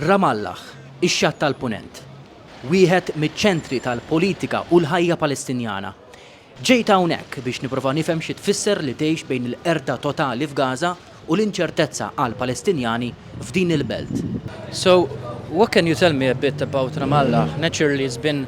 Ramallah, ix-Xatt tal-Punent, wieħed miċ-ċentri tal-politika u l-ħajja Palestinjana. Ġejt hawnhekk biex nipprova nifhem xi tfisser li tgħix bejn il-qerda totali f'Gaza u l-inċertezza għall-Palestinjani f'din il-belt. So, what can you tell me a bit about Ramallah? Naturally it's been.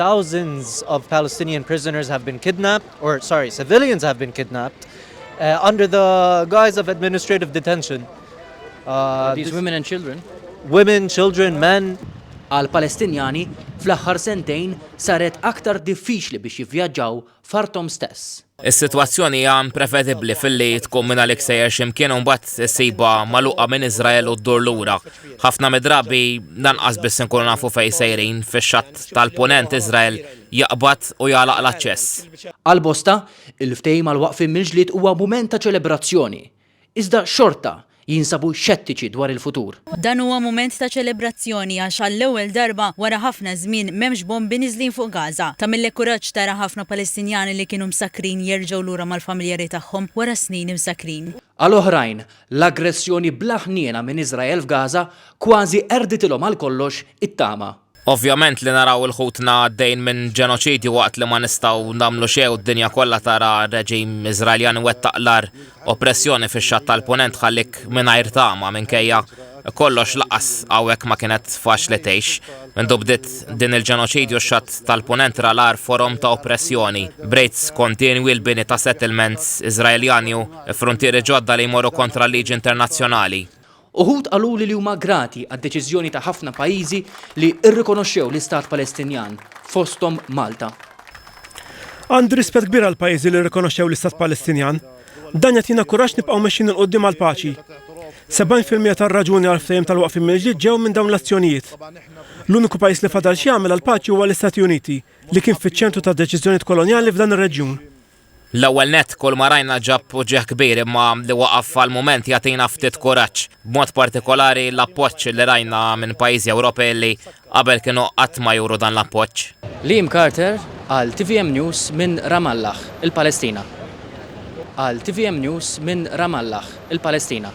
Thousands of Palestinian prisoners have been kidnapped, or sorry, civilians have been kidnapped, uh, under the guise of administrative detention. Uh, These women and children. Women, children, men. Għal Palestinjani, fl-aħħar sentejn saret aktar diffiċli biex jivvjaġġaw f'arthom stess. Is-sitwazzjoni hija imprevedibbli filli tkun minn għalik sejjer x'imkien u mbagħad issibha magħluqa minn Iżrael u ddur lura. Ħafna midrabi lanqas biss inkunu nafu fejn sejrin fix-xatt tal-Punent Iżrael jaqbad u jagħlaq l-aċċess. Għal bosta, il-ftehim għal waqfien mill-ġlied huwa mument ta' ċelebrazzjoni. iżda xorta jinsabu xettiċi dwar il-futur. Dan huwa mument ta' ċelebrazzjoni għax għall-ewwel darba wara ħafna żmien m'hemmx bombi niżlin fuq Gaza. Tagħmillek kuraġġ tara ħafna Palestinjani li kienu msakkrin jerġgħu lura mal-familjari tagħhom wara snin imsakkrin. Għal oħrajn, l-aggressjoni bla ħniena minn Iżrael f'Gaza kważi qerditilhom għal kollox it-tama. Ovvjament li naraw il ħutna għaddejn minn ġenoċidju waqt li ma nistgħu nagħmlu xejn u d-dinja kollha tara reġim Iżraeljan iwettaq l-agħar oppressjoni fix-Xatt tal-Punent tħallik mingħajr tama minkejja kollox lanqas hawnhekk ma kienet faċli tgħix. Mindu bdiet din il-ġenoċidju x-Xatt tal-Punent ra l-agħar forom ta' oppressjoni, b'rejds kontinwi l-bini ta' settlements Iżraeljani u fruntieri ġodda li jmorru kontra l-liġi internazzjonali. Uħud qaluli li huma grati għad-deċiżjoni ta' ħafna pajjiżi li rrikonoxxew l-Istat Palestinjan, fosthom Malta. Għandi rispett kbir għall-pajjiżi li rrikonoxxew l-Istat Palestinjan. Dan jagħtina kuraġġ nibqgħu mexjin 'il quddiem għall-paċi. Sebgħin fil-mija tar-raġuni għall-ftehim tal-waqfien mill-ġdid ġew minn dawn l-azzjonijiet. L-uniku pajjiż li fadal x'jagħmel għall-paċi huwa l-Istati Uniti, li kien fiċ-ċentru tad-deċiżjonijiet kolonjali f'dan ir-reġjun. L-ewwel nett, kull ma rajna ġab uġigħ kbir imma li waqaf għall-mument jagħtina ftit kuraġġ, b'mod partikolari l-appoġġ li rajna minn pajjiżi Ewropej li qabel kienu qatt ma juru dan l-appoġġ. Liam Carter għal tvm News minn Ramallah, il-Palestina. Għal tvm News minn Ramallah, il-Palestina.